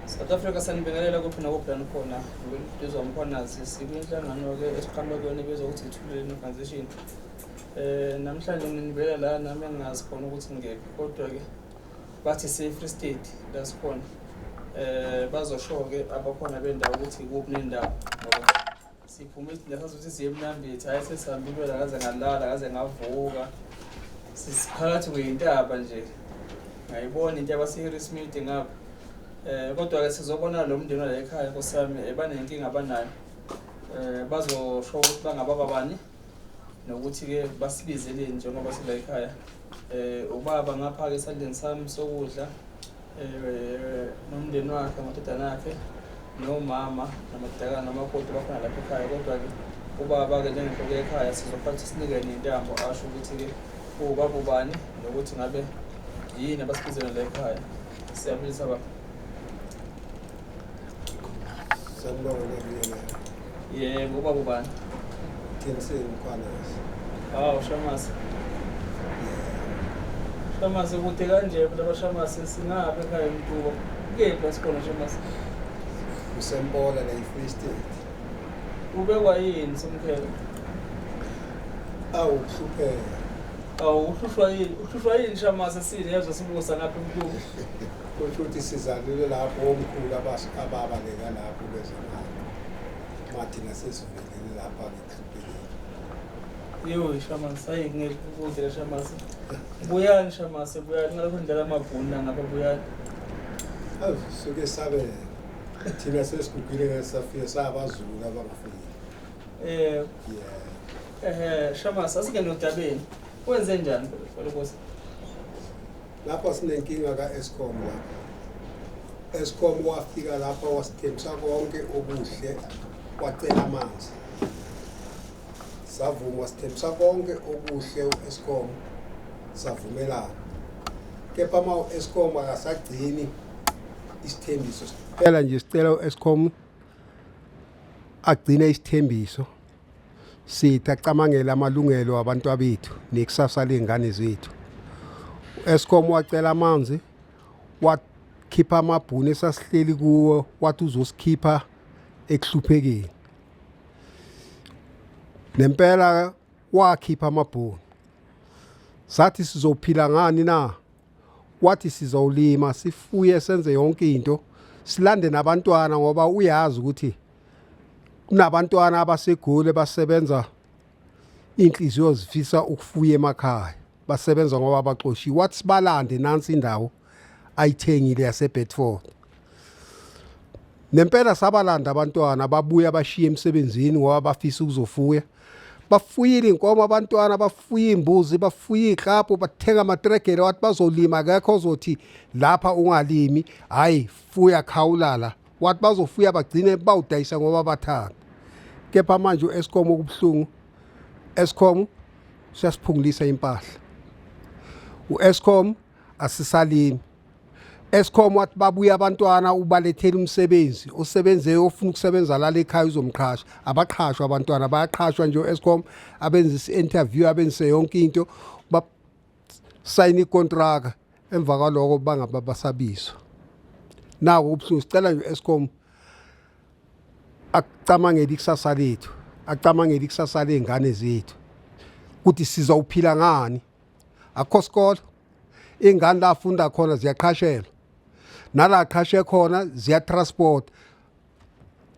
South Africa sanibingelela kuphi nakuphi lani khona ngizwa umkhwanazi sikwinhlangano-ke esiqhamuka kuyona ebizwa ukuthi ithuleni organization um namhlanje nginibela la nami engingazi khona ukuthi ngekho kodwa-ke bathi se-free state la sikhona um bazosho-ke abakhona bendawo ukuthi kuphi nendawo Siphume isidinga sazuthi siye emnambithi hhayi sesihambile wena ngaze ngalala ngaze ngavuka sisiphakathi kweyintaba nje ngayibona into yabase-harris midi ngapha um kodwa-ke sizobona lo mndeni wala ekhaya nkosiyami um banenkinga abanayo um bazosho ukuthi bangababa bani nokuthi-ke basibizeleni njengoba sila ekhaya um ubaba ngapha-ke esandleni sami sokudla um nomndeni wakhe amadodana akhe nomama namadodakana nomakoti bakhona lapha ekhaya kodwa-ke ubaba-ke njengenhloko ekhaya sizophatha sinikele intambo asho ukuthi-ke uwubaba ubani nokuthi ngabe yini abasibizela la ekhaya siyabulisa baba Sanibonga nobingelela. Yebo, uba kubani? Kinsini Mkhwanazi. Hawu Shamase. Shamase kude kanje phela bashamase singabe ekhaya emtuba. Kephi asikhona Shamase? Usempola la e-Free State. Ubekwa yini somkhelo? Awu kuhlupheka. Awu uhlushwa yini? Uhlushwa yini Shamase sini yezwa sibusa lapha emtuba? Kusho ukuthi sizalile lapho omkhulu ababaleka lapho bezemali mathi nasesivelele lapha ngekrikeleni Yo Shaman sayi ngeke ukudlela Shaman. Buyani Shaman buyani ngalokho ndlela amabhunu ngapha buyani. Suke sabe thina sesigugile ngesafika sabazulu abangafiki. Eh. Yeah. Eh Shaman asike nodabeni. Wenze njani lokho? Lapha sinenkinga ka-Eskom lapha. Eskom wafika lapha wasithembisa konke okuhle wacela amanzi. Savuma wasithembisa konke okuhle u-Eskom savumelana. Kepha ma u-Eskom akasagcini isithembiso. Phela nje sicela u-Eskom agcine isithembiso. Sithi acamangele amalungelo abantu abethu nekusasa ley'ngane zethu. U-Eskom wacela amanzi wakhipha amabhuni esasihleli kuwo wathi uzosikhipha ekuhluphekeni. Nempela wakhipha amabhuni. Sathi sizophila ngani na? wathi sizowulima sifuye senze yonke into silande nabantwana ngoba uyazi ukuthi kunabantwana abasegoli basebenza inhliziyo zifisa ukufuya emakhaya basebenza ngoba baxoshiwe wathi sibalande nansi indawo ayithengile yaseBedford nempela sabalanda abantwana babuya bashiye emsebenzini ngoba bafisa ukuzofuya bafuyile inkomo abantwana bafuye imbuzi bafuye iklabhu bathenga amatregele wathi bazolima kekho ozothi lapha ungalimi hayi fuya khawulala wathi bazofuya bagcine bawudayisa ngoba bathanda kepha manje u-escom okubuhlungu escom siyasiphungulisa impahla u-escom asisalimi Escom wathi babuye abantwana ubalethela umsebenzi osebenze ofuna ukusebenza la lekhaya uzomqhasha abaqhashwa abantwana bayaqhashwa nje Escom abenza i-interview abenze yonke into sayina ikontraka emva kwaloko bangaba basabizwa nako ubuhlungu sicela nje Escom akucamangeli ikusasa lethu acamangeli ikusasa lengane zethu ukuthi sizawuphila ngani akho sikolo iy'ngane la afunda khona ziyaqhashelwa nala aqhashe khona ziyatransport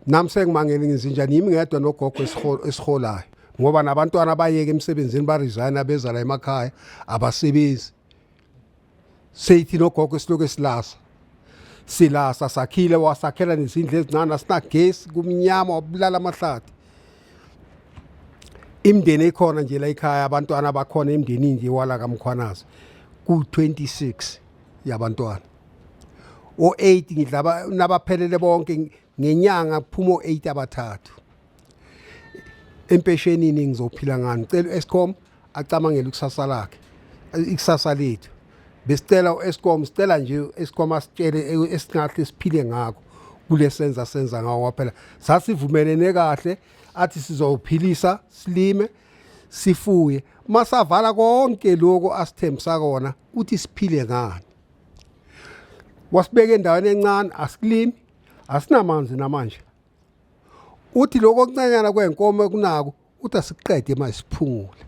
nami sengimangele ngizinjani yimi ngedwa nogogo esiholayo ngoba nabantwana abayeke emsebenzini baresign abeza la emakhaya abasebenzi seyithi nogogo esiloku esilasa silasa sakhile wasakhela nezindlu ezincane asinagesi kumnyama wabulala amahlathi imndeni ekhona nje la ekhaya abantwana abakhona emndenini nje wala kaMkhwanazi ku-26 yabantwana o-8 ngidlaba nabaphelele bonke ngenyanga kuphuma o-8 abathathu empeshenini ngizophila ngani cela u-escom acamangele ikusasa lakhe ikusasa lethu besicela u-escom sicela nje u-escom asitshele esingahle siphile ngakho kule senza senza ngawo kwaphela sasivumelene kahle athi sizophilisa silime sifuye masavala konke lokho asithembisa kona uthi siphile ngani wasibeka endaweni encane asikulimi asinamanzi namanje uthi lokho okuncanyana kwenkomo ekunako uthi asiqede manje siphungule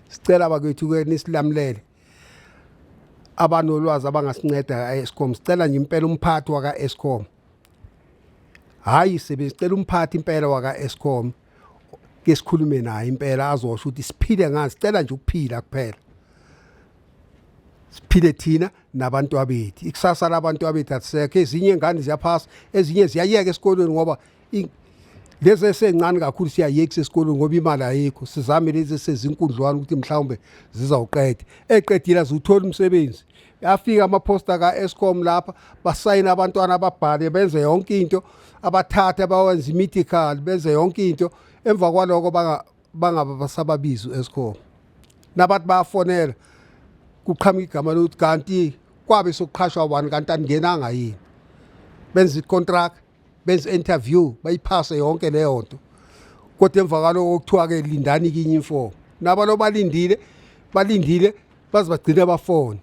sicela bakwethu ke nisilamulele abanolwazi abangasinceda ka-escom sicela nje impela umphathi waka-escom hhayi sebe sicela umphathi impela waka-escom ke sikhulume naye impela azosho ukuthi siphile ngani sicela nje ukuphila kuphela siphile thina nabantu abethu ikusasa labantu abethu asisekho ezinye ingane ziyaphasa ezinye ziyayeka esikolweni ngoba lezi esencane kakhulu siyayekisa esikolweni ngoba imali ayikho sizame lezi esezinkundlwana ukuthi mhlawumbe zizawuqeda eqedile aziwutholi umsebenzi afika amaphosta ka-escom lapha basayina abantwana ababhale benze yonke into abathathe bawenze i-medical benze yonke into emva kwaloko bangaba basababizi u-escom nabathi bayafonela kuqhamuka igama lokuthi kanti kwabe sokuqhashwa wani kanti aningenanga yini benza icontract benza interview bayiphase yonke leyo nto kodwa emva kwaloko kuthiwa ke lindani kinye imfomo naba lo balindile balindile baze bagcine bafone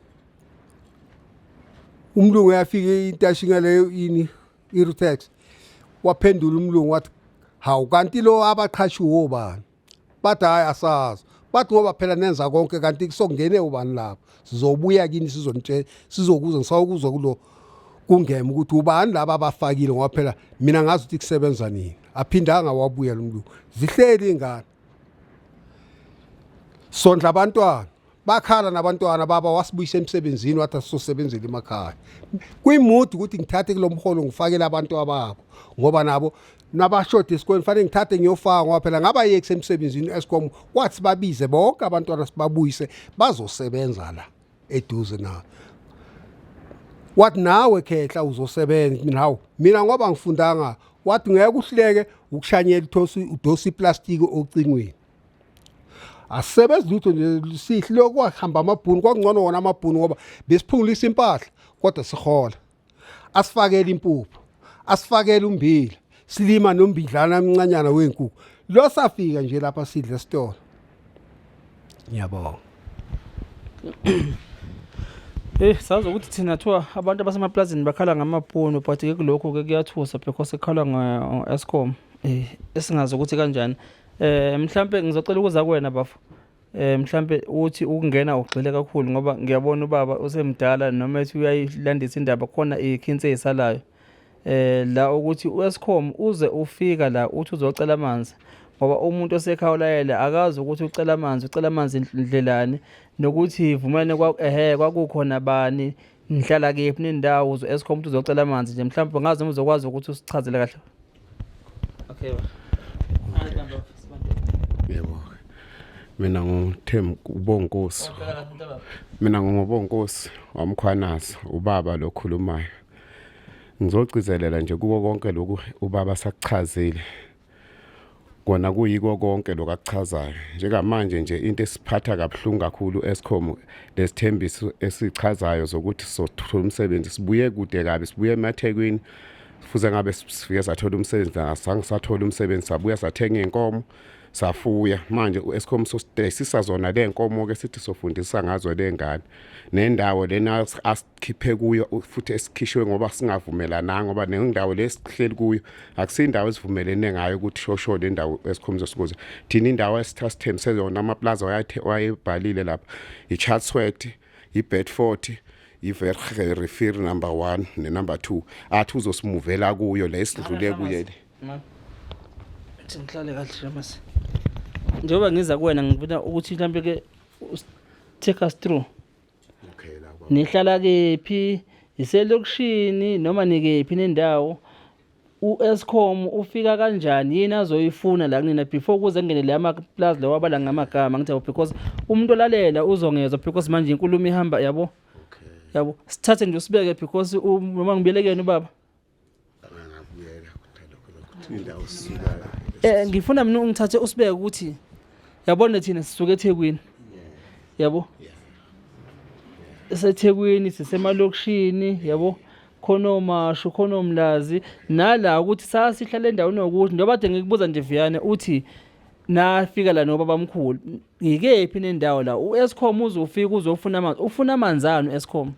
umlungu yafika intashi ngaleyo ini irutex waphendula umlungu wathi hawu kanti lo abaqhashiwo bani bathi hhayi asazi bathi ngoba phela nenza konke kanti kusokungene ubani lapho sizobuya kini sizonitshela sizokuza ngisawukuzwa kulo kungema ukuthi ubani laba abafakile ngoba phela mina ngazi ukuthi kusebenza nini aphindanga wabuya lomlungu zihleli ingane sondla abantwana bakhala nabantwana baba wasibuyisa emsebenzini wathi asizosebenzela emakhaya kwi-mood ukuthi ngithathe kulo mholo ngifakele abantu ababo ngoba nabo nabashode esikoleni fanele ngithathe ngiyofaka ngoba phela ngabayekisa emsebenzini escom kwathi babize bonke abantwana sibabuyise bazosebenza la eduze na wathi nawe khehla uzosebenza nawe mina ngoba ngifundanga wathi ngeke uhleke ukushanyela ithosi udosi iplastiki ocingweni asebenzi lutho nje sihle kwahamba amabhunu kwangcono wona amabhunu ngoba besiphungulisa impahla kodwa sihola asifakele impuphu asifakele umbila silima nombidlana omncanyana wenkukhu lo safika nje lapha sidle esitolo ngiyabonga Eh sazi ukuthi thina thiwa abantu abasemaplazini bakhala ngamabhunu but ke kulokho ke kuyathusa because ekhala nge-Eskom eh esingazi ukuthi kanjani Eh mhlambe ngizocela ukuza kuwena bafo. Eh mhlambe uthi ukungena ugxile kakhulu ngoba ngiyabona ubaba usemdala noma ethi uyayilandisa indaba khona ikhinse isalayo. Eh la ukuthi uScom uze ufika la uthi uzocela amanzi. ngoba umuntu osekhawulayele akazi ukuthi ucela amanzi ucela amanzi ndlelani nokuthi ivumelane ehe kwakukhona bani nihlala kephi nendawo eskhombe ukuthi uzocela amanzi nje mhlawumbe ngazi noma uzokwazi ukuthi usichazele kahle Okay. Yebo. Mina ngithemba ubonkosi. Mina ngingobonkosi wamkhwanaza ubaba lokhulumayo. Ngizogcizelela nje kuko konke lokhu ubaba sakuchazile. kona kuyiko konke lokakuchazayo njengamanje nje into esiphatha kabuhlungu kakhulu escom lesithembiso esichazayo zokuthi sothola umsebenzi sibuye kude kabi sibuye emathekwini fuze ngabe sifike sathola umsebenzi nasange sathola umsebenzi sabuya sathenga inkomo safuya manje uEscom sositesisa zona lenkomo ke sithi sofundisa ngazo lengane nendawo lena khiphe kuyo futhi esikhishwe ngoba singavumelananga ngoba nendawo lesihleli kuyo akusindawo esivumelene ngayo ukuthi shosho le ndawo esikhomza sikuze thina indawo esitha sithembise yona amaplaza wayebhalile lapha i-chatsworth i-bedford i-verhe refir number one nenumber two athi uzosimuvela kuyo le esidlule kuye le ngihlale kahle mas njengoba ngiza kuwena ngifuna ukuthi mhlawumbe ke take us through Okay la baba. Nihlala kephi? Iselokishini noma nikephi nendawo? u-Eskom ufika kanjani yini azoyifuna la kunina before kuze kungene le amaplazi lawa abala ngamagama ngithi yabo because umuntu olalela uzongezwa because manje inkulumo ihamba yabo yabo sithathe nje usibeke because noma ngibelekeni ubaba Eh ngifuna mina ungithathe usibeke ukuthi yabona thina sisuke eThekwini. Yabo? esethekwini sisemalokishini yabo khona omashu khona omlazi nala ukuthi sasihlala endaweni yokuthi njengoba kade ngikubuza nje viyane uthi nafika la nobabamkhulu Ngikephi nendawo la? U-Eskom uzofika uzofuna amanzi. Ufuna amanzi ani u-Eskom?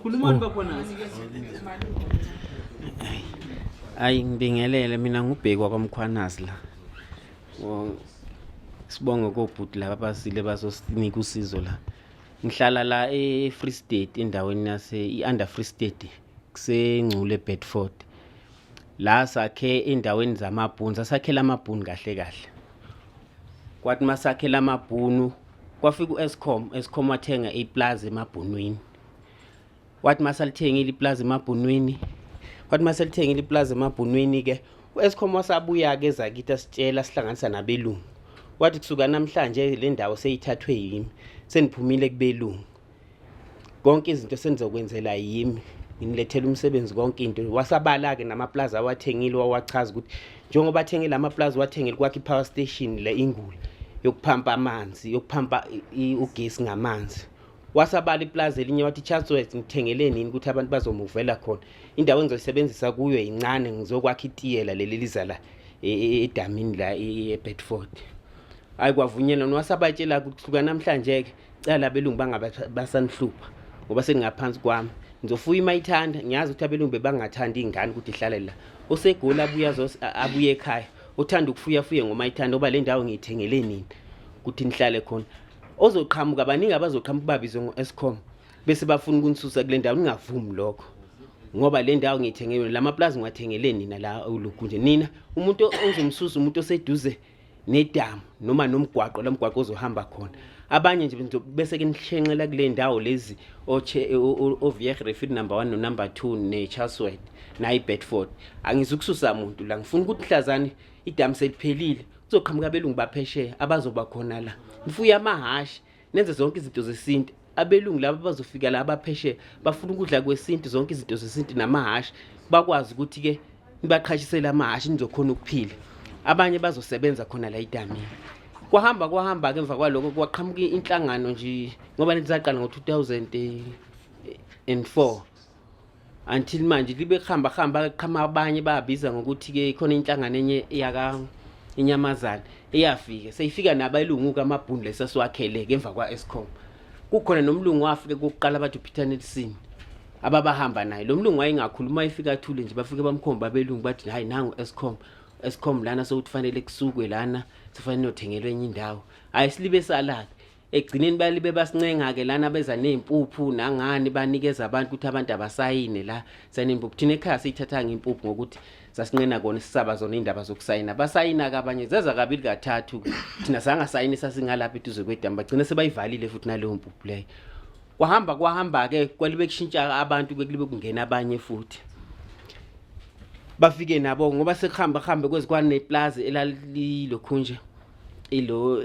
Khulumani oh. bakhona. Ayi ngibingelele mina ngubhekwa kwaMkhwanazi la. Sibonge kobhuti laba basile bazosinika usizo la. Ngihlala la e-Free State endaweni yase i-Under Free State. kusengcule Bedford la sakhe endaweni zamabhunu sasakhela amabhunu kahle kahle kwathi masakhela amabhunu kwafika uEscom Escom wathenga iplaza emabhunwini wathi masalithengile iplaza emabhunwini wathi masalithengile iplaza emabhunwini ke uEscom wasabuya ke zakithi asitshela sihlanganisa nabelungu wathi kusuka namhlanje le ndawo seyithathwe yimi seniphumile kubelungu konke izinto senizokwenzela yimi nginilethela umsebenzi konke into wasabala-ke namaplazi awathengile wawachaza ukuthi njengoba athengile amaplazi wathengile kwakhe i-power station le ingula yokuphampa amanzi yokuphampa ugesi ngamanzi wasabala iplazi elinye wathi chatsworth ngithengele nini ukuthi abantu bazomuvela khona indawo engizoyisebenzisa kuyo yincane ngizokwakha itiyela leli liza la e, e, e, edamini la ebedford hhayi kwavunyelwa nowasabatshela kuhluka namhlanje-ke cala abelungu bangabe basanihlupha ngoba seningaphansi kwami ngizofuya uma ithanda ngiyazi ukuthi abelungu bebangathandi iy'ngane ukuthi ihlale la osegoli abuye abuye ekhaya othanda ukufuya fuye ngoma ithanda oba le ndawo ngiyithengele nini ukuthi nihlale khona ozoqhamuka baningi abazoqhamuka babizwe ngo-escom bese bafuna ukunisusa kule ndawo ningavumi lokho ngoba le ndawo ngiyithengele la mapulazi ngiwathengele nina la ulugu nje nina umuntu ozomsusa umuntu oseduze nedamu noma nomgwaqo la mgwaqo ozohamba khona abanye nje bese ke nishenxela kule ndawo lezi ovier refit number one nonumber two ne-charswet nayi-bedford angizukususa muntu la ngifuna ukuthi mhlazane idamu seliphelile kuzoqhamuka abelungu baphesheya abazoba khona la nifuye amahhashi nenze zonke izinto zesintu abelungu laba bazofika la abaphesheya bafuna ukudla kwesintu zonke izinto zesintu namahhashi bakwazi ukuthi-ke nibaqhashisele amahhashi nizokhona ukuphila abanye bazosebenza khona la idamini kwahamba kwahamba ke emva kwaloko kwaqhamuka inhlangano nje ngoba nezaqala ngo-2004 until manje libe kuhamba hamba qhama abanye babiza ngokuthi ke khona inhlangano enye yaka inyamazana eyafika seyifika nabayilungu kamabhunu lesasiwakhele ke emva kwa Escom kukhona nomlungu wafike kokuqala abathi uPeter Nelson ababahamba naye lo mlungu wayengakhuluma efika athule nje bafike bamkhomba abelungu bathi hayi nangu Escom Escom lana sokufanele kusukwe lana sifanele uthengelwe enye indawo hayi silibe salaka ekugcineni bayalibe basincenga-ke lana beza ney'mpuphu nangani banikeza abantu ukuthi abantu abasayine la saney'mpuphu thina ekhaya siyithathanga impuphu ngokuthi sasinqena kona sisaba zona iy'ndaba zokusayina basayina-ke abanye zeza kabili kathathu thina sangasayini sasingalapha eduze kwedamu bagcine sebayivalile futhi naleyo mpuphu leyo kwahamba kwahamba-ke kwalibe kushintsha abantu bekulibe kungena abanye futhi bafike nabo ngoba sekuhamba kuhambe kwezikwane neplazi elalilokhunje ilo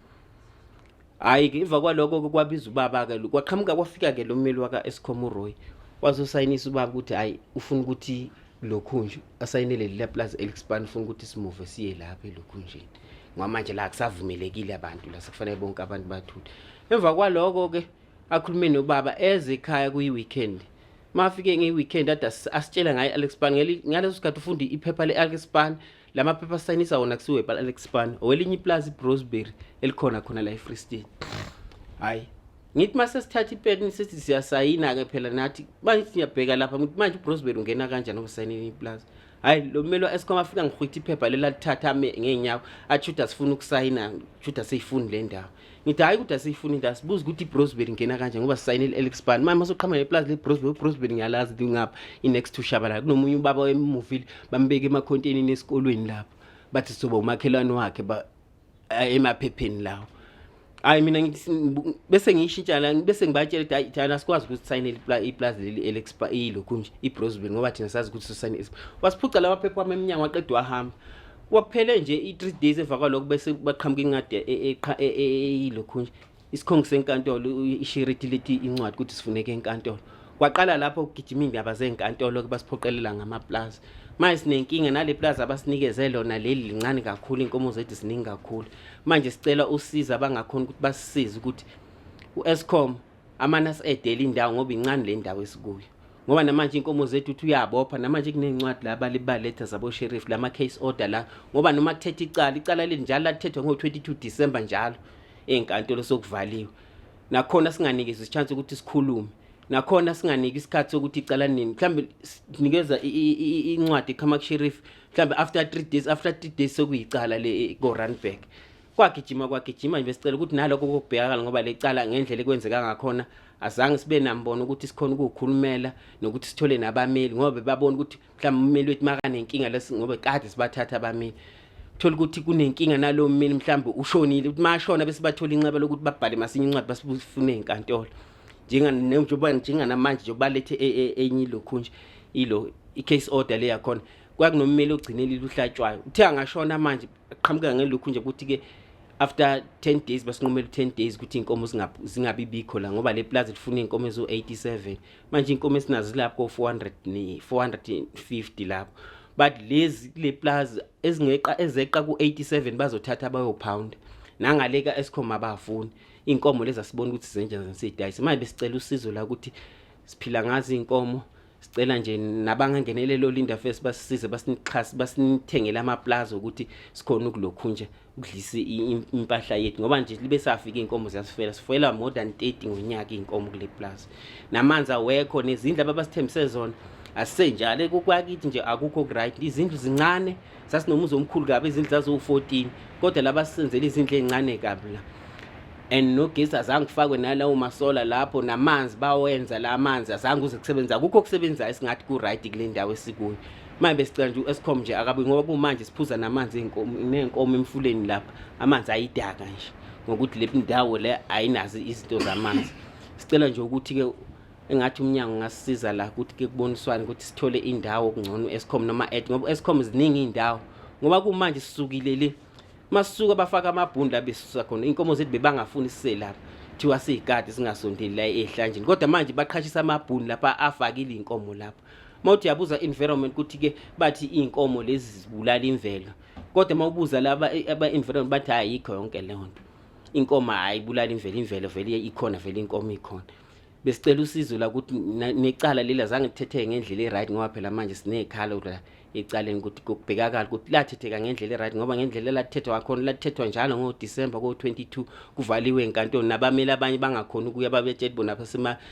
hayi ke iva kwaloko-ke kwabiza ubaba-ke kwaqhamuka kwafika-ke lo mmeli waka-escom uroy wazosayinisa ubaba ukuthi hhayi ufuna ukuthi lokhunje asayinele leli laplazi elispan ufuna ukuthi simuve siye lapha elokhunjeni ngoba manje la kusavumelekile abantu la sekufanele bonke abantu bathule emva kwaloko-ke akhulume nobaba eze ekhaya kuyi-weekend mafike ngeyi-weekend ade asitshela ngaye i-alexpan ngaleso sikhathi ufunde iphepha le-alexpan la maphepha asayinisa wona kusiwe alex span owelinye iplazi ibrosberry elikhona khona la efree state hhayi ngithi uma sesithatha ipetini sithi siyasayina-ke phela nathi manje sithi ngiyabheka lapha ngithi manje ubrosberry ungena kanjani okusayinini iplazi hhayi lo mmeli wa-escom afika ngihwitha iphepha leli alithatha ame ngey'nyawo athi shuthi asifuni ukusayina shuthi aseyifuni le ndawo ngithi hhayi ukuthi asiyifuni into asibuze ukuthi ibrosbel ingena kanje ngoba sisayinile alex ban manje masoqhama neplazi lebrosbel ubrosbel ngiyalazi lingapha i-next to shabalala kunomunye ubaba wemuvile bambeke emakhonteyinini esikolweni lapho bathi sizoba umakhelwane wakhe eh, emaphepheni lawo hayi mina bese ngiyishintsha la bese ngibatshela ukuthi hayi thina sikwazi ukuthi sayinele iplazi leli alex ilokhu nje ibrosbel ngoba thina sazi ukuthi sosayinile wasiphuca lamaphepha wami emnyango waqeda wahamba kwaphele nje i-three days emva kwalokho bese baqhamuka incwadi eyilokhu nje isikhongi senkantolo ishiriti lithi incwadi ukuthi sifuneke enkantolo kwaqala lapho ukugijima iy'ndaba zey'nkantolo ke basiphoqelela ngamaplazi manje sinenkinga nale plazi abasinikeze lona leli lincane kakhulu iy'nkomo zethu ziningi kakhulu manje sicela usiza abangakhona ukuthi basisize ukuthi u-escom amane asedele indawo ngoba incane le ndawo esikuyo ngoba namanje inkomo zethu uthi uyabopha namanje kunencwadi la balibaletha zabosheriff lama case order la ngoba noma kuthetha icala icala leli njalo lathethwa ngo-22 december njalo ey'nkantolo sokuvaliwe nakhona singanikezi ichance ukuthi sikhulume nakhona singaniki isikhathi sokuthi icala nini mhlawumbe sinikeza incwadi ekhamak sheriff mhlawumbe after three days after three days sokuyicala le ko-runback kwagijima kwagijima nje besicela ukuthi nalokho kokubhekakala ngoba lecala ngendlela ekwenzeka ngakhona azange sibe nambono ukuthi sikhona ukukhulumela nokuthi sithole nabameli ngoba bebabona ukuthi mhlawumbe umeli wethu makanenkinga lesi ngoba kade sibathatha abameli thola ukuthi kunenkinga nalowo mmeli mhlawumbe ushonile ukuthi mashona bese bathola inxeba lokuthi babhale masinya incwadi basifune enkantolo njenga njengoba njenganamanje njengoba lethe e, e, enye lokhu nje ilo i case order le yakhona kwakunommeli ogcinelile uhlatshwayo uthe angashona manje qhamuka ngelokhu nje ukuthi ke after 10 days basinqumela 10 days ukuthi inkomo zingabi bikho la ngoba le plaza lifuna inkomo ezo 87 manje inkomo esinazo lapho 400 ni 450 lapho but lezi kule plaza ezingeqa ezeqa ku 87 bazothatha abayo pound nangaleka esikhoma abafuni inkomo lezi asibona ukuthi zenjani zensidayise manje besicela usizo la ukuthi siphila ngazi inkomo sicela nje nabangangenelelo Linda First basisize basinixhase basinithengele amaplaza ukuthi sikhona ukulokhu nje ukudlisa impahla yethu ngoba nje libe safika inkomo ziyasifela sifela more than 30 ngonyaka inkomo kule plaza namanzi awekho nezindlu ababasithembise zona asenjalo kokwakithi nje akukho right izindlu zincane sasinomuzi omkhulu kabi izindlu zaziwu-14 kodwa laba sisenzela izindlu ey'ncane kabi la and nogesi azange kufakwe nalawo masola lapho namanzi bawenza la manzi azange uze kusebenza akukho okusebenzayo singathi ku-right kule ndawo esikuyo manje besicela nje u-escom nje akabi ngoba kumanje siphuza namanzi ney'nkomo emfuleni lapha amanzi ayidaka nje ngokuthi le ndawo le ayinazo izinto zamanzi sicela nje ukuthi-ke engathi umnyango ungasisiza la ukuthi ke kuboniswane ukuthi sithole indawo kungcono escom noma ed ngoba escom ziningi iy'ndawo ngoba kumanje sisukile le masuka bafaka amabhundi la besusa khona iy'nkomo zethu bebangafuni sise lapha kuthiwa siyikade singasondeli la ehlanjeni kodwa manje baqhashisa amabhuni lapha afakile iy'nkomo lapha uma uthi yabuza environment ukuthi-ke bathi iy'nkomo lezi zibulala imvelo kodwa uma ubuza laba aba-environment bathi ayikho yonke leyo nto inkomo hayi ibulala imvelo imvelo vele ikhona vele inkomo ikhona besicela usizo la ukuthi necala leli azange kuthethe ngendlela e-right ngoba phela manje siney'khala ukuthi ecaleni ukuthi kubhekakala ukuthi lathetheka ngendlela e-right ngoba ngendlela elathethwa ngakhona lathethwa njalo ngodisemba ko-22 kuvaliwe enkantoni nabamele abanye bangakhoni ukuya babetsheli bona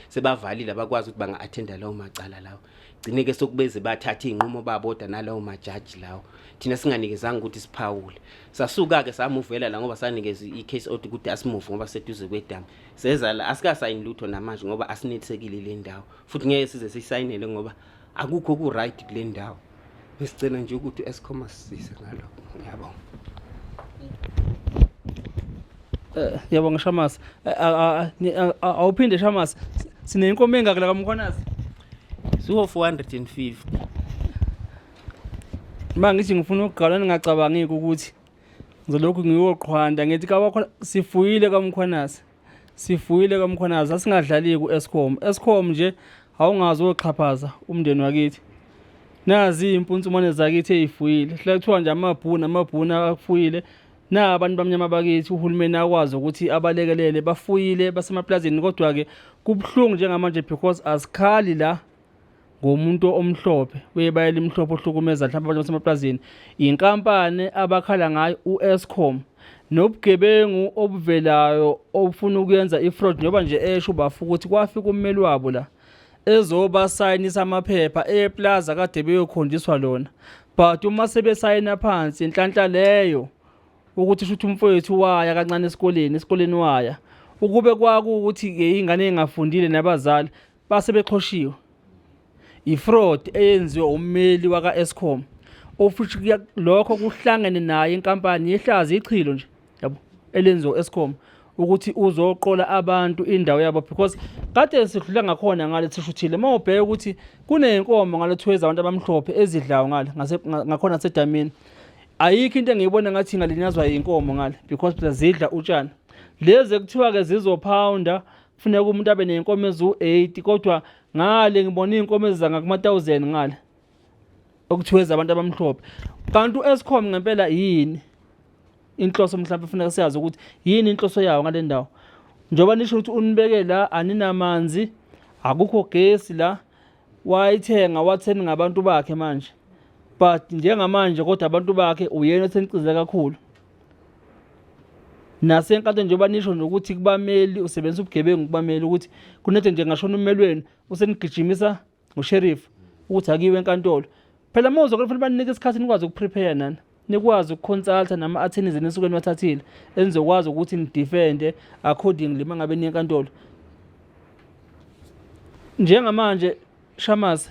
sebavalile abakwazi ukuthi banga-athenda lawo macala lawo gcine-ke sokubeze bathathe iy'nqumo babodwa nalawo majaji lawo thina singanikezanga ukuthi siphawule sasuka-ke samuvela la ngoba sanikeza i-case out ukuthi asimuve ngoba seduze kwedamu sezala asikasayini lutho namanje ngoba asinethisekile le ndawo futhi ngeke size sisayinele ngoba akukho oku-right kule ndawo ngisicela nje ukuthi u-escom asisize ngalokho ngiyabonga eh, ngiyabonga shamasi eh, awuphinde shamasi sinenkomo engaki la kamkhwanazi siwo-450 ma ngithi ngifuna ukugalwa ningacabangiki ukuthi ngizolokhu ngiyoqhwanda ngithi kawakho sifuyile kamkhwanazi sifuyile kamkhwanazi asingadlali ku-escom escom nje awungazi oxhaphaza umndeni wakithi nazi iy'mpuntsumane zakithi ey'fuyile hla kuthiwa nje amabhuni amabhuni akufuyile na abantu bamnyama bakithi uhulumeni akwazi ukuthi abalekelele bafuyile basemaplazini kodwa-ke kubuhlungu njengamanje because azikhali la ngomuntu omhlophe webaya elimhlophe ohlukumeza mhlawumbe abantu basemaplazini yinkampani abakhala ngayo u-escom nobugebengu obuvelayo obufuna ukuyenza i-fraud njengoba nje esho ubafu ukuthi kwafika ummeli wabo la ezobasayinisa amaphepha eplaza kade beyokhonjiswa lona but uma sebesayina phansi inhlanhla leyo ukuthi shuthi umfowethu waya kancane esikoleni esikoleni waya ukube kwakuwukuthi-ke ingane engafundile nabazali base beqhoshiwe ifraud eyenziwe ummeli waka-escom ofuthi lokho kuhlangene naye inkampani yehlazi ichilo nje yabo elenziwa u-escom ukuthi uzoqola abantu indawo yabo because kade sidlula ngakhona ngale sishuthile uma ubheke ukuthi kuney'nkomo ngale kuthiwa ezabantu abamhlophe ezidlayo ngale ngakhona sedamini ayikho into engiyibona ngathi ingalinyazwa yinkomo ngale because phela zidla utshani lezi ekuthiwa-ke zizophawunda funeka umuntu abe ney'nkomo eziwu-eighty kodwa ngale ngibona iy'nkomo ezizanga kuma-thousand ngale okuthiwa ezabantu abamhlophe kanti u-escom ngempela yini inhloso mhlawumbe funeka siyazi ukuthi yini inhloso yawo ngale ndawo njengoba nisho ukuthi unibeke la aninamanzi akukho gesi la wayithenga watheni ngabantu bakhe manje but njengamanje kodwa abantu bakhe uyena osenicize kakhulu nasenkantolo njengoba nisho nokuthi kubameli usebenzisa ubugebengu kubameli ukuthi kunethe nje ngashona ummeli wenu usenigijimisa ngusherifu ukuthi akiwe enkantolo phela uma uzokela fanele baninike isikhathi nikwazi ukuprepare nani nikwazi ukuconsulta nama-attorneys enisuke niwathathile enizokwazi ukuthi nidefende accordingly uma ngabe niye enkantolo njengamanje shamase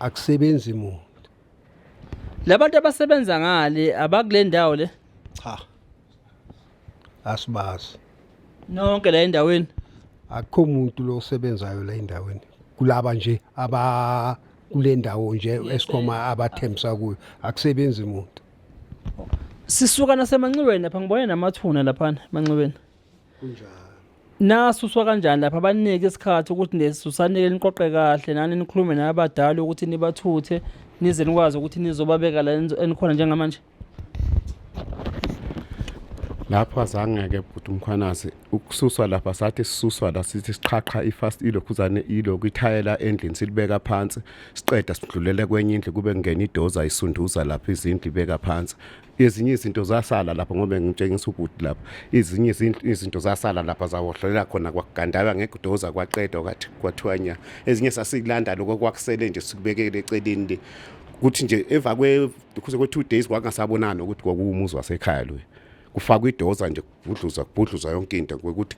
akusebenzi muntu labantu abasebenza ngale abakule ndawo le cha asibazi nonke la endaweni akukho muntu lo osebenzayo la endaweni kulaba nje aba kule ndawo nje esikhoma abathembisa kuyo akusebenzi muntu sisuka nasemanxiweni lapha ngibone namathuna laphana emanxiweni kunjalo nasuswa kanjani lapha abanike isikhathi ukuthi nesusanike niqoqe kahle nani nikhulume nabadala ukuthi nibathuthe nize nikwazi ukuthi nizobabeka la enizo- enikhona njengamanje lapho azange-ke bhuti umkhwanazi ukususwa lapha sathi sisuswa la sithi siqhaqha ifast ilokhuzane ilokhu ithayela endlini silibeka phansi siqeda sidlulele kwenye indlu kube kungena idoza isunduza lapha izindlu ibeka phansi ezinye izinto zasala lapho ngoba ngitshengisa ubhuti lapho izinye izinto zasala lapha zawohlolela khona kwakugandawa ngegudoza kwaqedwa kwathi kwathiwanya ezinye sasikulanda lokho kwakusele nje sikubekele eceleni le kuthi nje emva kwe kuze kwe 2 days kwakungasabonani ukuthi kwakuwumuzi wasekhaya lo kufakwa idoza nje kubhudluza kubhudluza yonke into ukuthi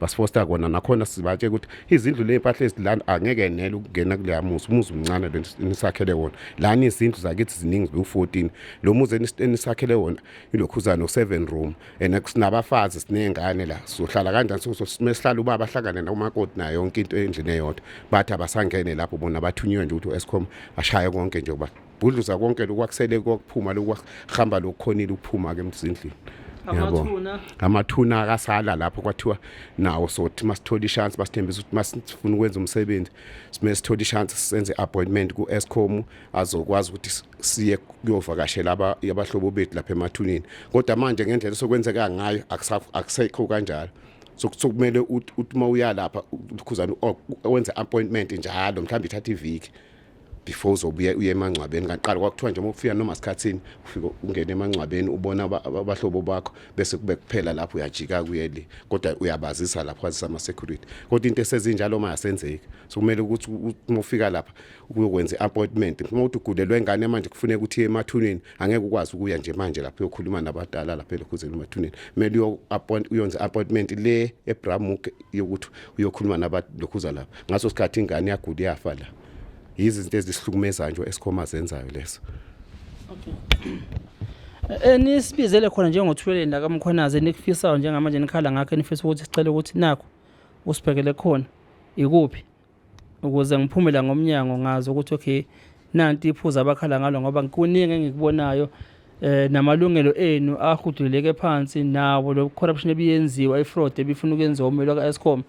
basifosta kona nakhona sibatshe ukuthi izindlu ley'mpahla ezilana angeke nele ukungena kuleya muzi umuzi umncane lo nisakhele wona lani izindlu zakithi ziningi ziwu-14 lo muzi enisakhele wona ilokhuzane no-seven room and sinabafazi siney'ngane la sohlala kanjani sihlala ubaba ahlangane nakumakoti nayo yonke into endlini eyodwa bathi abasangene lapho bona bathunywe nje ukuthi u-escom ashaye konke nje uba bhudluza konke lokhu kwakusele kokuphuma lokhu kwahamba lokukhonile ukuphuma ke emzindlini yabo amathuna akasala lapho kwathiwa nawo sothi masithola ishance basithembisa ukuthi masifuna ukwenza umsebenzi sime sithola ishance senze appointment ku Escom azokwazi ukuthi siye kuyovakashela abahlobo bethu lapha emathunini kodwa manje ngendlela sokwenzeka ngayo akusekho kanjalo sokumele uthi uma uyalapha ukhuzana wenze appointment njalo mhlawumbe ithatha iviki before uzobuya uye emangcwabeni kaqala kwakuthiwa nje uma ufika noma sikhathini ufike ungene emangcwabeni ubona abahlobo bakho bese kube kuphela lapho uyajika kuye le kodwa uyabazisa lapho kwazisa ama security kodwa into esezinjalo uma yasenzeki so kumele ukuthi uma ufika lapha ukuyokwenza appointment uma uthi ugulelwe ingane manje kufuneka ukuthi emathuneni angeke ukwazi ukuya nje manje lapho uyokhuluma nabadala lapha elokhuzeni umathuneni kumele uyo appoint uyonza appointment le ebramuk yokuthi uyokhuluma nabalokhuza lapha ngaso sikhathi ingane yagula yafa la yizi izinto ezisihlukumezayo nje esikhoma zenzayo leso okay eh, nisibizele khona njengothuleleni la kamkhwanaze nikufisayo njengamanje nikhala ngakho enifisa ukuthi sicela ukuthi nakho usibhekele khona ikuphi ukuze ngiphume la ngomnyango ngazi ukuthi okay nanti iphuza abakhala ngalo ngoba kuningi engikubonayo eh namalungelo enu ahuduleke phansi nawo lo corruption ebiyenziwa ifraud ebifuna ukwenziwa umelo kaEscom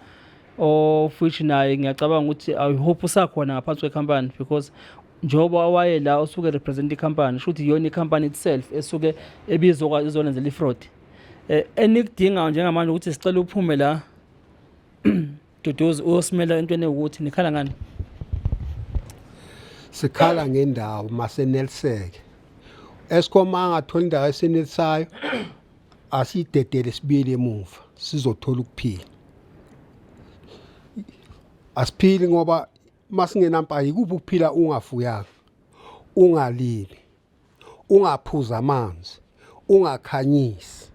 of which naye ngiyacabanga ukuthi i hope usakhona ngaphansi kwecompany because njengoba waye la usuke represent icompany shuthi iyona icompany itself esuke ebizokwazi izolenzela ifraud eh enikudingayo njengamanje ukuthi sicela uphume la Duduzi uyosimela entweni ukuthi nikhala ngani? Sikhala ngendawo maseneliseke. Eskom angathola indawo esenelisayo asidedele sibili emuva sizothola ukuphila. Asiphili ngoba masingenampahla ikuphi ukuphila ungafuyanga ungalimi Ungaphuzi amanzi, ungakhanyisi.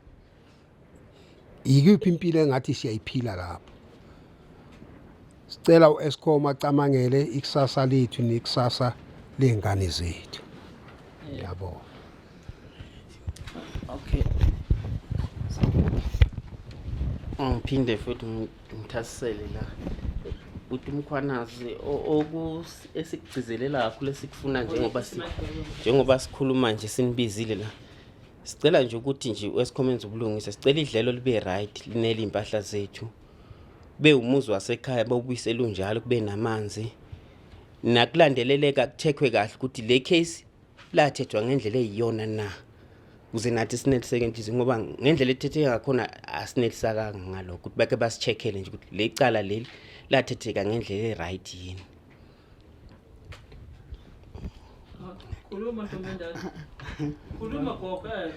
Yikuphi impilo engathi siyayiphila lapho? Sicela u-Eskom acamangele ikusasa lethu nekusasa ley'ngane zethu. Ngiyabonga. Okay. Ngiphinde futhi Ngithasisele la uthi umkhwanazi esikugcizelela kakhulu esikufuna njengoba njengoba sikhuluma nje sinibizile la sicela nje ukuthi nje wesikhomeni zobulungisa sicela idlelo libe right linele impahla zethu kube umuzi wasekhaya bawubuyisela unjalo kube namanzi nakulandeleleka kuthekwe kahle ukuthi le case lathethwa ngendlela eyiyona na kuze nathi sineliseke inhliziyo ngoba ngendlela ethetheke ngakhona asinelisakanga ngalokho ukuthi bake basi-check-ele nje ukuthi le cala leli lathetheka ngendlela e-right yini khuluma ntombendala khuluma gogo eh.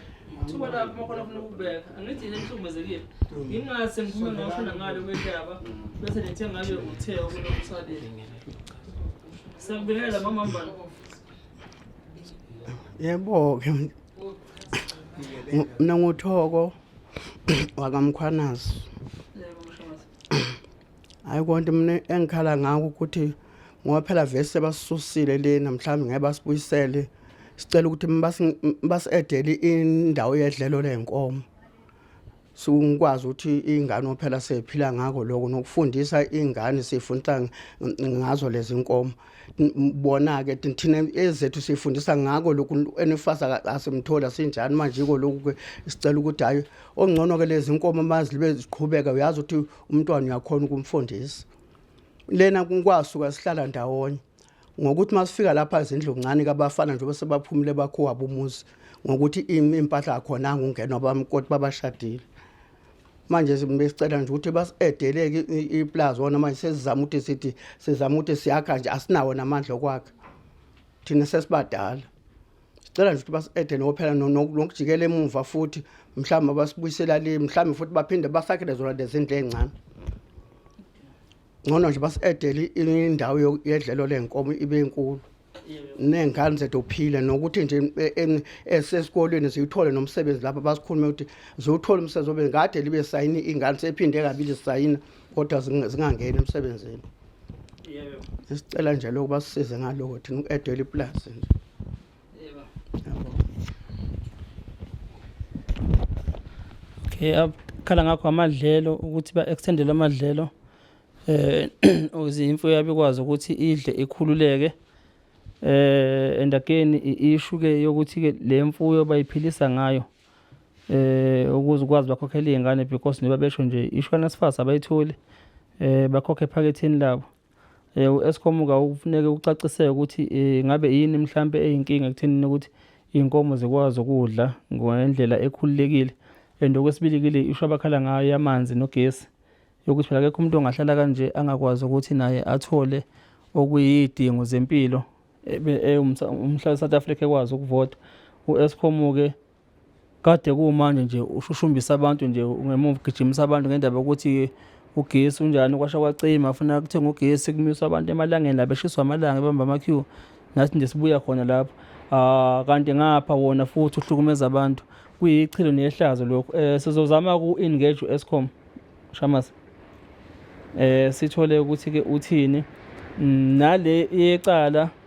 thuba lakho makhona funa ukubeka angithi yini enihlukumezekile ngingase ngiphume ngasho nangalo kwendaba bese nithe ngabe uthe okunomsalile siyakubingelela mamambana yebo ke mina nguthoko wakamkhwanazi hayi konke mina engikhala ngako ukuthi ngoba phela vese basisusile lena mhlawumbe ngeke basibuyisele sicela ukuthi basi-edele indawo yedlelo ley'nkomo singikwazi ukuthi ingane ophela sephila ngako lokho nokufundisa ingane sifundisa ngazo lezi nkomo bona-ke thina ezethu sifundisa ngako lokhu enifasa asimthola sinjani manje iko lokhu-ke sicela ukuthi hhayi ongcono-ke lezi nkomo mazilibe ziqhubeka uyazi ukuthi umntwana uyakhona ukumfundisa lena kwasuka sihlala ndawonye ngokuthi masifika lapha izindlu ncane kabafana njengoba sebaphumile bakhuwabo umuzi ngokuthi impahla akhona ngungenwa bamkoti babashadile manje besicela nje ukuthi basi-edeleke iplazi wona manje sesizama ukuthi sithi sizama ukuthi siyakha nje asinawo namandla okwakha thina sesibadala sicela nje ukuthi basi-ede nokuphela nokujikela emuva futhi mhlawumbe basibuyisela le mhlawumbe futhi baphinde basakhele zona lezindlu ey'ncane ngcono nje basi-edele indawo yedlelo lenkomo ibe nkulu ney'ngane zethu phile nokuthi nje e, esesikolweni ziwuthole nomsebenzi lapho basikhulume ukuthi ziwuthole umsebenzi obe kade libe sayini iy'ngane sephinde kabili zisayina kodwa zingangeni emsebenzini sicela nje loku basisize ngaloko thina uku-edela ipulazi nje Eyvah. Okay, akhala ngakho amadlelo ukuthi ba-extendele amadlelo eh ukuze imfuyo yabo ikwazi ukuthi idle ikhululeke eh and again i-issue ke yokuthi ke le mfuyo bayiphilisa ngayo eh ukuze ukwazi bakhokhela izingane because njengoba besho nje ishwana sifasa abayitholi eh bakhokhe ephaketheni labo eh, u-escom kawufuneke ucaciseke ukuthi eh, ngabe yini mhlampe eyinkinga ekuthenini ukuthi iy'nkomo zikwazi ukudla ngendlela ekhululekile and okwesibilikile isho abakhala ngayo yamanzi nogesi yokuthi phela akekho umuntu ongahlala kanje angakwazi ukuthi naye athole okuyidingo zempilo eh, umhlali south africa ekwazi ukuvota u-escom-ke Kade kuwumanje nje ushushumbisa abantu nje ngemuva ugijimisa abantu ngendaba yokuthi ugesi unjani kwasha kwacima afuna kuthenga ugesi kumiswa abantu emalangeni la beshiswa amalanga ebamba ama-queue nathi nje sibuya khona lapho um kanti ngapha wona futhi uhlukumeza abantu kuyichilo nehlazo lokhu um sizozama ku-engage u-escom shamas um sithole ukuthi-ke uthini nale yecala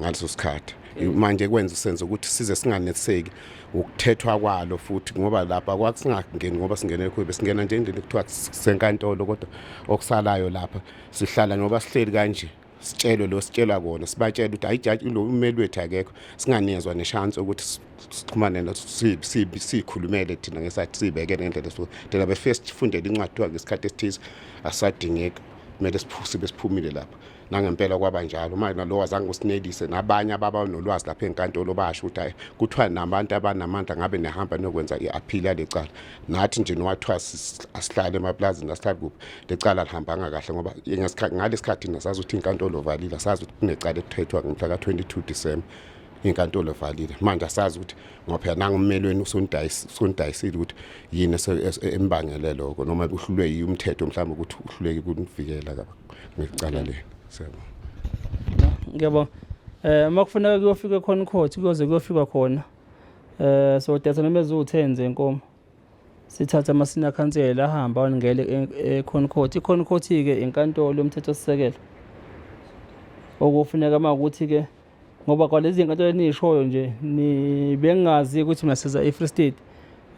ngaleso sikhathi manje kwenza usenze ukuthi size singaneseki ukuthethwa kwalo futhi ngoba lapha kwasingangeni ngoba singene kuyo besingena nje indlela kuthiwa senkantolo kodwa okusalayo lapha sihlala ngoba sihleli kanje sitshelwe lo sitshelwa kona sibatshela ukuthi hayi jaji lo umeli wethu akekho singanezwa neshansi ukuthi sixhumane siyikhulumele thina ngesathi siyibeke ngendlela so thina befike sifundele incwadi kuthiwa ngesikhathi esithize asadingeki kumele siphuse besiphumile lapha nangempela kwaba njalo manje nalowa zange usinelise nabanye ababa nolwazi lapha enkantolo basho ukuthi hayi kuthiwa nabantu abanamandla ngabe nehamba nokwenza i-appeal yale cala nathi nje nowathiwa asihlale emaplazini asihlale kuphi le cala lihambanga kahle ngoba ngalesikhathi nasazi ukuthi inkantolo valile asazi ukuthi kunecala elithethwa ngomhla ka-22 December inkantolo valile manje asazi ukuthi ngoba phela nangummelweni usundayisile ukuthi yini embangele lokho noma uhlulwe yi umthetho mhlawumbe ukuthi uhluleke ukuvikela ngecala leni siyabona ngiyabona eh uma kufuneka kuyofika khona court kuyoze kuyofika khona eh so datha noma eziwu-10 zenkomo sithatha amasina khansela ahamba waningele ekhona e-, court ikhona court-ke inkantolo yomthethosisekelo okufuneka uma ukuthi-ke ngoba kwalezi zinkantolo eniyishoyo nje bengazi ukuthi mina siza e-free state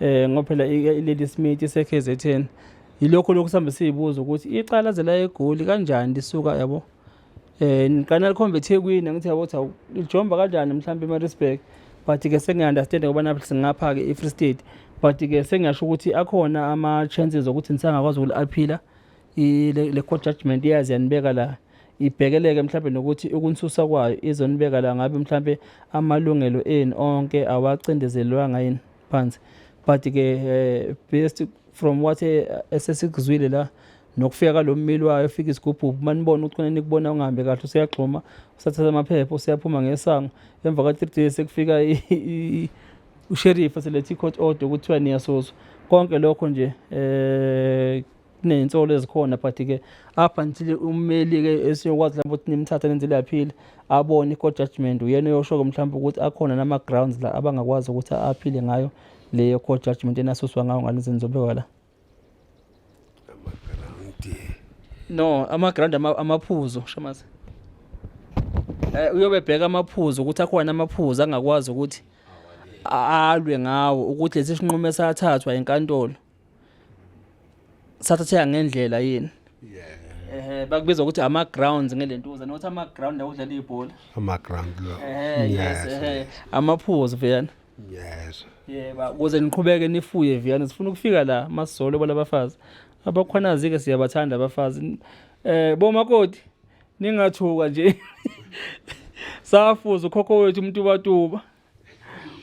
um ngoba phela ilady smith ise-kzn yilokho lokhu sihambe siyibuza ukuthi icala ze la egoli kanjani lisuka yabo um eh, niqana likhombe ethekwini angithi yabo ukuthi lijomba kanjani mhlawumbe emarisburg but-ke sengiyi-understande ngoba naphi singapha-ke i-free state but-ke sengiyasho ukuthi akhona ama-chances okuthi nisangakwazi ukuli-aphila le court judgment iyazi yanibeka la ibhekeleke mhlawumbe nokuthi ukunsusa kwayo izonibeka la ngabe mhlawumbe amalungelo enu onke awacindezelwanga yini phansi but ke eh, based from what eh, esesikuzwile la nokufika kalo mmeli wayo efika isigubhubhu uma nibona ukuthi khona nikubona ungahambe kahle useyagxuma usathatha amaphepha useyaphuma ngesango emva ka-three days sekufika usheriff selethi i-court order kuthiwa niyasozwa konke lokho nje um kunezinsolo ezikhona but ke up until ummeli ke esiyokwazi lapho ukuthi nimthathe nenze laphile abone i-court judgment uyena oyosho-ke mhlawumbe ukuthi akhona nama-grounds la abangakwazi ukuthi aphile ngayo leyo court judgment enasuswa ngayo ngalezi nizobekwa la no ama-ground amaphuzu shamazi um eh, uyobe ebheka amaphuzu ukuthi akhona amaphuzu angakwazi ukuthi alwe ngawo ukuthi lesi sinqumo esathathwa enkantolo sathatheka ngendlela yini eh bakubiza ukuthi ama grounds ngelentuza nokuthi ama ground la udlala ibhola ama ground lo eh yes eh amaphuzo vuyana yes yeba kuze niqhubeke nifuye vuyana sifuna ukufika la masizolo balabafazi abakhwanazi ke siyabathanda abafazi eh bomakoti ningathuka nje safuza ukhokho wethu umtubatuba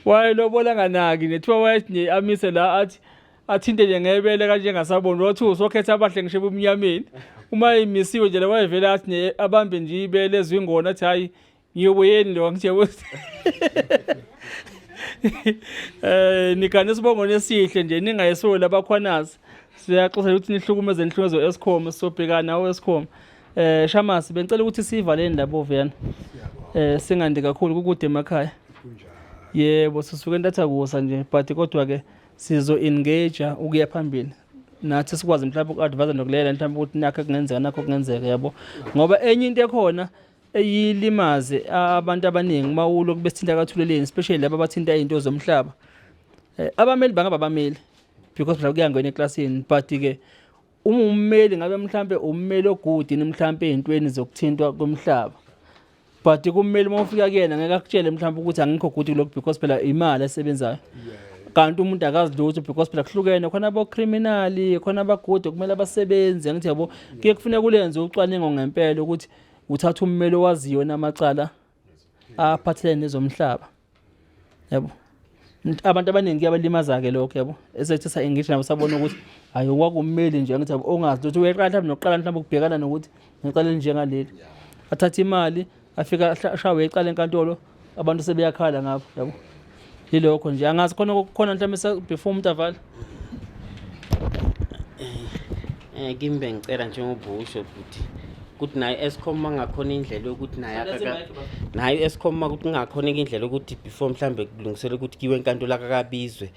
wayelobola nganaki nethiwa wayethi amise la athi athinte nje ngebele kanje engasaboni wathi usokhetha abahle ngisho ebumnyameni uma imisiwe nje wayevele athi ne abambe nje ibele ezwingona athi hayi ngiyobuyeni lo ngithe ukuthi eh nikane isibongo nesihle nje ningayesoli abakhwanazi siyaxoxa ukuthi nihlukumeze inhlumezo escom sobhekana awescom Eh Shamasi bengicela ukuthi sivale indaba oviyana. Eh singandi kakhulu kukude emakhaya. Yebo sisuke entatha kusa nje but kodwa ke sizo engage ukuya phambili. Nathi sikwazi mhlawumbe uku-advise nokulela mhlawumbe ukuthi nakho kungenzeka nakho kungenzeka yabo. Ngoba enye into ekhona eyilimaze abantu abaningi uma ulo kubesithinta kathuleleni especially laba abathinta izinto zomhlaba. Eh abameli bangaba bameli because mhlawumbe kuyangena eklasini but ke uma ummeli ngabe mhlampe ummeli ogudini mhlampe ezintweni zokuthintwa komhlaba but kummeli uma ufika kuyena ngeke akutshele mhlawumbe ukuthi angikho good kulokhu because phela imali esebenzayo kanti umuntu akazi lutho because phela kuhlukene khona abocriminali khona abagude kumele abasebenzi angithi yabo kuye kufuneka ulenze ucwaningo ngempela ukuthi uthatha ummeli owaziyo namacala aphathelene nezomhlaba yabo abantu abaningi kuyabalimaza-ke lokho yabo esethi sa-engage nabo sabona ukuthi hhayi okwakumeli nje ngithi ongazi ukuthi uyeqala mhlawumbe nokuqala mhlawumbe ukubhekana nokuthi ngiqale njengaleli athathe imali afika ashawe ecala enkantolo abantu sebeyakhala ngabo yabo yilokho nje angazi khona kukhona mhlawumbe before umuntu avala eh kimi bengicela nje ngobusho ukuthi ukuthi naye escom mangakhona indlela yokuthi naye naye escom ukuthi kungakhona indlela yokuthi before mhlambe kulungisela ukuthi kiwe enkantolo akakabizwe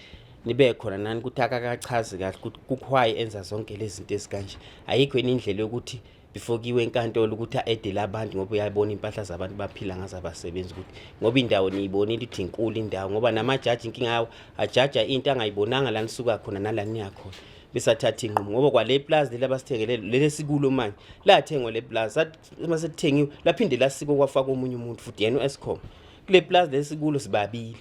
nibe khona nani ukuthi akakachazi kahle ukuthi kukhwayi enza zonke lezi zinto ezikanje ayikho yini indlela yokuthi ifokiwe enkantolo ukuthi a-edele abantu ngoba uyabona impahla zabantu baphila ngazo abasebenzi ukuthi ngoba indawo niyibonile ukuthi inkulu indawo ngoba namajaji inkinga yawo ajaja into angayibonanga la nisuka khona nala niya khona besathatha inqumo ngoba kwale plaza leli abasithengele leli esikulo manje lathengwa le plaza uma selithengiwe laphinde lasiko kwafaka omunye umuntu futhi yena u-escom kule plaza lesikulo sibabili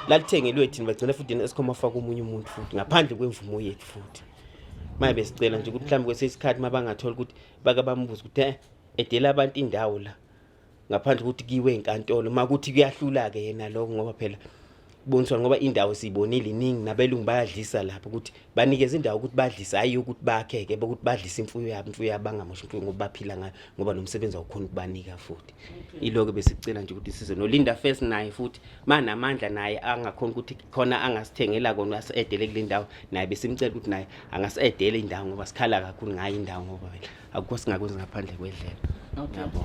lathengelwe thina bagcina futhi yena escom afaka omunye umuntu futhi ngaphandle kwemvumo yethu futhi maye besicela nje ukuthi mhlawumbe kwesinye isikhathi uma bangathola ukuthi bake bambuze ukuthi eh, edela abantu indawo la ngaphandle kokuthi kiwe enkantolo uma kuthi kuyahlula-ke yena lokho ngoba phela boniswa ngoba indawo siyibonile iningi nabelungu bayadlisa lapho ukuthi banikeza indawo ukuthi badlise hhayi ukuthi bakhe-ke bokuthi badlise imfuyo yabo imfuyo yabo bangamoshi imfuyo ngoba baphila ngayo ngoba nomsebenzi awukhona ukubanika futhi iloko besicela nje ukuthi size nolinda first naye futhi manamandla naye angakhona ukuthi khona angasithengela kona asidele kule ndawo naye besimcela ukuthi naye angasidele indawo ngoba sikhala kakhulu ngayo indawo ngoba vele akukho singakwenzi ngaphandle kwedlela yabo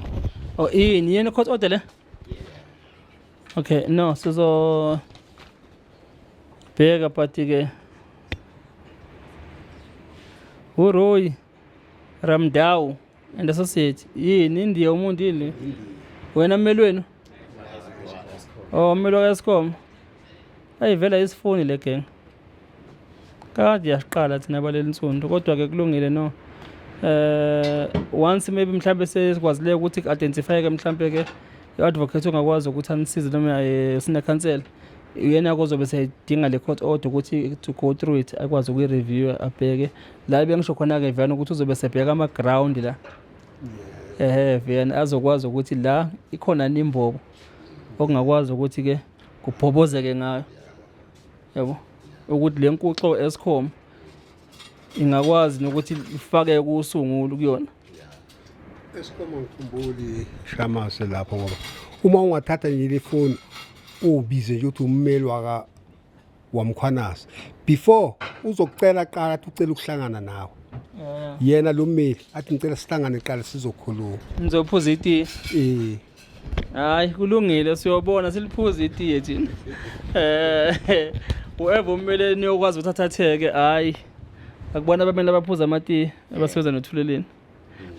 oh yini yena court order le okay no sizo bheka but ke uroyi Ramdawu and associate yini indiya umuntu yini wena mmeli wenu oh mmeli wakaescom ayi vela isifuni le gang kade yasiqala thina baleli nsundu kodwa-ke kulungile no eh once maybe mhlambe sesikwazileyo ukuthi identify-ke mhlambe ke i-advocate ongakwazi ukuthi anisize noma eh, sinekhansela uyena kozobe seyidinga le court order ukuthi to go through it akwazi ukuyi-review abheke la bengisho khona-ke viyana ukuthi uzobe sebheka ama-ground la ehe viyana azokwazi ukuthi la ikhona nimbobo okungakwazi ukuthi-ke kubhobozeke ngayo yabo ukuthi le nkuxo escom ingakwazi nokuthi ifake kusungulu kuyona escom ngikhumbuli shamase lapho ngoba uma ungathatha nje le foni ubize nje ukuthi ummeli waka waMkhwanazi before uzokucela qala athi ucela ukuhlangana nawe Yeah. yena lo mmeli athi ngicela sihlangane qala sizokhuluma Nizophuza itiye. eh Hayi kulungile siyobona siliphuza itiye thina. Eh whoever umele niyokwazi ukuthathatheke hayi. Akubona abamele abaphuza amatiye abasebenza nothuleleni.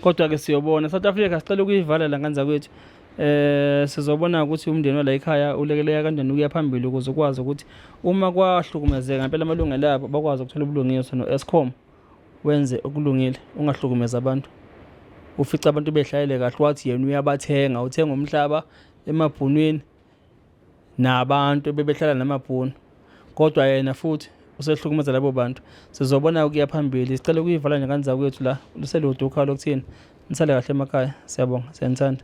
kodwa ke siyobona South Africa sicela ukuyivala la nganza kwethu eh sizobona ukuthi umndeni wala ekhaya ulekeleka kanjani ukuya phambili ukuze ukwazi ukuthi uma kwahlukumezeka ngempela amalungelo abo bakwazi ukuthola ubulungiswa no-escom wenze okulungile ungahlukumeza abantu ufica abantu behlayele kahle wathi yena uyabathenga uthenga umhlaba emabhunwini nabantu bebehlala namabhunu kodwa yena futhi usehlukumeza labo bantu sizobona ukuya phambili sicela ukuyivala nje kanza kwethu la luselude ukhala lokuthini nisale kahle emakhaya siyabonga siyanithanda